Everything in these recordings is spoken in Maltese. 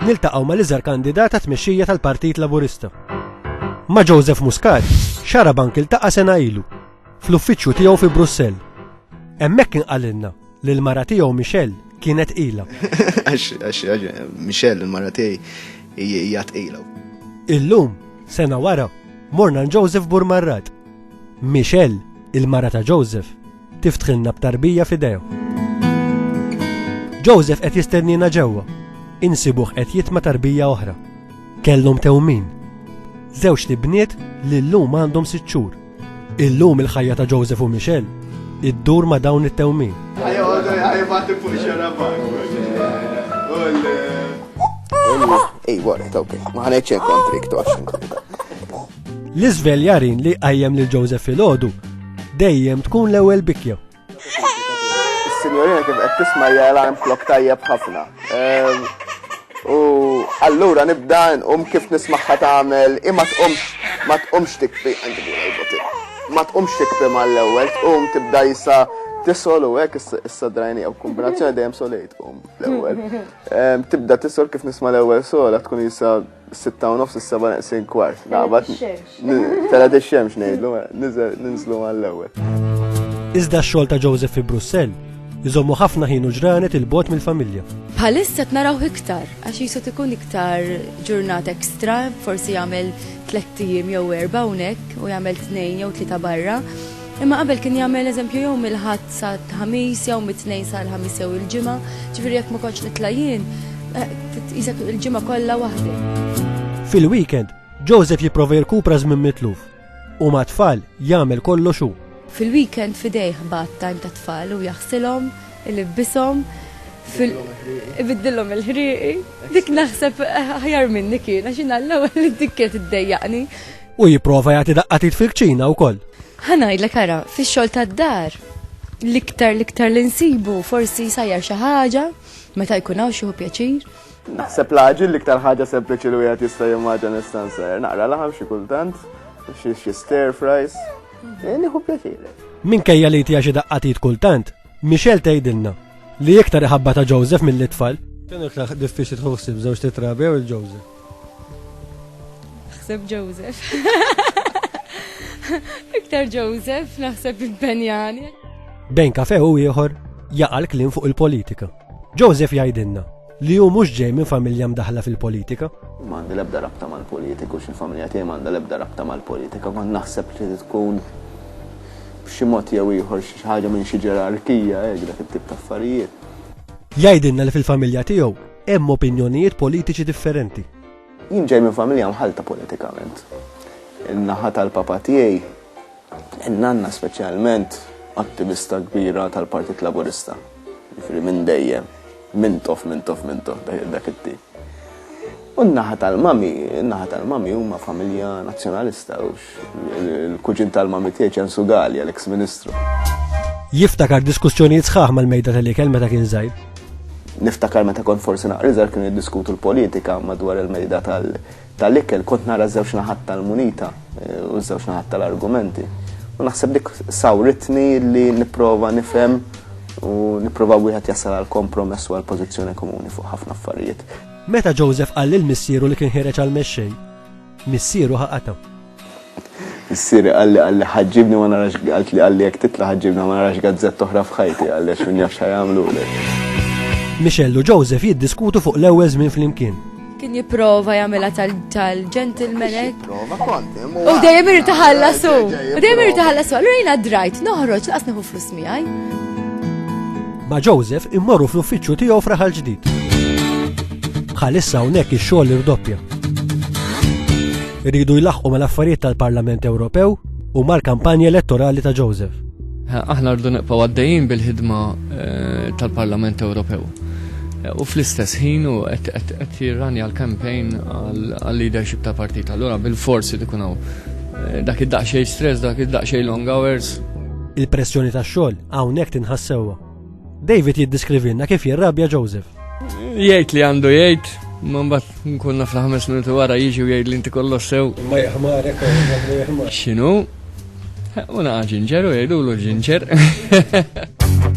Niltaqgħu ma' l-iżgħar kandidata tmexxija tal-Partit Laburista. Ma' Joseph Muscat, xarabank iltaqa' sena ilu, fl-uffiċċju tiegħu fi Brussell. Hemmhekk inqalilna li l-mara tiegħu Michelle kienet qila. Michelle, il-mara tiegħi hija tqila. Illum, sena wara, morna Joseph Burmarrat. Michelle, il-mara ta' Joseph, Tiftħilna b'tarbija f'idejh. Joseph qed jistennina ġewwa. Insibuh qed jitma tarbija oħra. Kellhom tewmin. Żewġ li bniet li llum għandhom sitt xhur. Illum il-ħajja ta' Joseph u Michelle iddur ma' dawn it-tewmin. Ej, wara, tawk, ma ħanejċen kontrik, toċ. L-iżvel jarin li qajjem lil Joseph filgħodu dejjem tkun l-ewwel bikja. Is-sinjorina kif qed tisma' hija alarm clock tajjeb ħafna. Ehm, u allura nibda nqum kif nismaħħa tagħmel imma tqumx ma tqumx tikbi ma tqumx tikbi mal-ewwel tqum tibda jisa tisol u hekk issa drajni jew kombinazzjoni dejjem solejt tqum l-ewwel. Ehm, tibda tisol kif nisma' l-ewwel sola tkun jisa Sitta u nofs is-seba' neqsin kwart. Naqbad. Tela tix-xemx ngħidlu, ninżlu għall-ewwel. Iżda x-xogħol ta' Joseph fi Brussell iżommu ħafna ħin u ġranet il-bot mill-familja. Bħalissa t-naraw iktar, għax jisu tikun iktar ġurnat ekstra, forsi jagħmel tlettijiem jew erba' hawnhekk u jagħmel tnejn jew tlieta barra. Imma qabel kien jagħmel eżempju jew mill-Ħadd sal-Ħamis jew mit-Tnejn sal-Ħamis jew il-Ġimgħa, ġifieri jekk ma kontx nitla' jien, tqisek il-ġimgħa kollha waħdi. Fil-weekend, Joseph jipprova jirkupra żmien mitluf u mat-tfal jagħmel kollox hu. Fil-weekend f'idejh bad time tat-tfal u jaħsilhom, ilibbishom, ibiddilhom il-ħrieqi. Dik naħseb aħjar minni kien għax jiena l-ewwel dik kienet iddejjaqni. U jipprova jagħti daqqatit fil-kċina wkoll. Ħanajdlek ara, fix-xogħol tad-dar, l-iktar l-iktar li nsibu forsi sajjar xi ħaġa meta jkun hawn xi pjaċir. Naħseb l-aġil l-iktar ħaġa sempliċi li wieħed jista' jimmaġa nista' nsajjar. Naqra laħam xi kultant, xi stir fries. Eh, nieħu pjaċir. Minkejja li tija xi daqqatit kultant, Michelle tgħidilna li iktar iħabba ta' Joseph mill-itfal. Kien iktar diffiċli tħossib żewġ titrabi jew il-Joseph. Naħseb Joseph. Iktar Joseph naħseb impenjani. Bejn kafe u ieħor jaqa' l-kliem fuq il-politika. Joseph jgħidilna li hu mhux ġej minn familja mdaħla fil-politika. M'għandi l-ebda rabta mal-politiku, x'il-familja tiegħi m'għandha l-ebda rabta mal-politika, ma naħseb li tkun b'xi mod jew ieħor xi ħaġa minn xi ġerarkija hekk dak it-tip ta' affarijiet. Jgħidilna li fil-familja tiegħu Hemm opinjonijiet politiċi differenti. Jien ġej minn familja mħallta politikament. In-naħa tal-papa tiegħi, in-nanna speċjalment, attivista kbira tal-Partit Laburista. Jiġifieri minn dejjem, mintof, mintof, mintof dak it-tip. U n-naħa tal-mami, in-naħa tal-mami huma familja nazzjonalista u Il-kuġin tal-mami tiegħi ċensu Galja, l-eks ministru. Jiftakar diskussjonijiet sħaħ mal-mejda tal-ikel meta kien żgħir. Niftakar meta kont forsi naqriżar kienu jiddiskutu l-politika madwar il-mejda tal-ikel, kont nara żewġ naħat tal-munita eh, u żewġ naħat tal-argumenti. U naħseb dik sawritni li nipprova nifhem u nipprova wieħed jasal għal kompromess u għal pożizzjoni komuni fuq ħafna affarijiet. Meta Joseph qal lil missieru li kien ħireġ għal mexxej, Missieru ħa qatgħu. Missieri qalli qalli ħaġġibni ma narax qaltli qalli jekk titla' ħaġġibna ma narax gazzett oħra f'ħajti qalli għax min jaf xa jagħmlulek. Michelle u Joseph jiddiskutu fuq l-ewwel żmien flimkien. Kien jipprova jagħmilha tal-gentleman hekk. U dejjem irid taħallasu. U dejjem irid taħallasu. Allura jiena drajt noħroġ laqas neħu flus miegħi. Ma' Joseph immorru fl-uffiċċju tiegħu f'Raħal Ġdid. Bħalissa hawnhekk ix-xogħol irdoppja. Iridu jlaħqu mal-affarijiet tal-Parlament Ewropew u mal-kampanja elettorali ta' Joseph. Aħna rdu nibqgħu għaddejjin bil-ħidma eh, tal-Parlament Ewropew. Eh, u fl-istess ħin u qed jirranja l-kampejn għal-leadership ta' partit. Allura bil-forsi dikunaw eh, dak id-daqxej stress, dak id-daqxej long hours, Il-pressjoni tax-xogħol hawnhekk tinħass sewwa. David jiddeskrivilna kif jirrabja Joseph. Jgħid li għandu jgħid, ma mbagħad nkun naf ħames minuti wara jiġi u jgħid li inti kollox sew. Ma jaħmarek, ma jaħmarek. X'inhu? U naqa' ġinġer u jgħidulu ġinġer.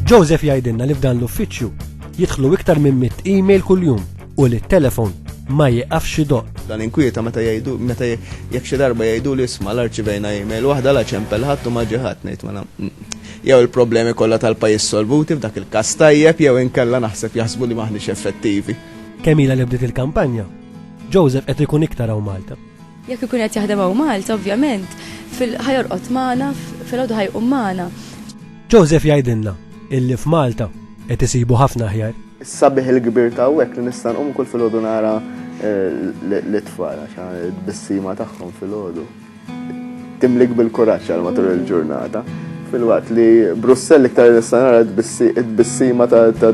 Joseph jgħidilna li f'dan l-uffiċċju jidħlu iktar minn mit email kuljum u li t-telefon ma jieqafx idoqq. Dan inkwieta meta jgħidu meta jekk xi darba jgħidu li isma' l arċivejna email waħda la ċempel ħadd u ma ġie ħadd ngħid mela jew il-problemi kollha tal-pajjiż solvuti f'dak il-każ tajjeb jew inkella naħseb jaħsbu li m'aħniex effettivi. Kemm ilha li bdiet il-kampanja, Joseph qed ikun iktar hawn Malta. Jekk ikun qed jaħdem hawn Malta, ovvjament, fil-ħajorqod magħna, filgħodu ħajqum magħna. Joseph jgħidilna illi f'Malta qed isibu ħafna aħjar. Is-sabiħ il-kbir ta' hawnhekk li nista' nqum kull filgħodu nara eh, l-itfal għax bissima tagħhom filgħodu. Timlik bil-kuraġġ għal matul il-ġurnata. Fil-waqt li Brussell iktar nista' nara t-bissima ta'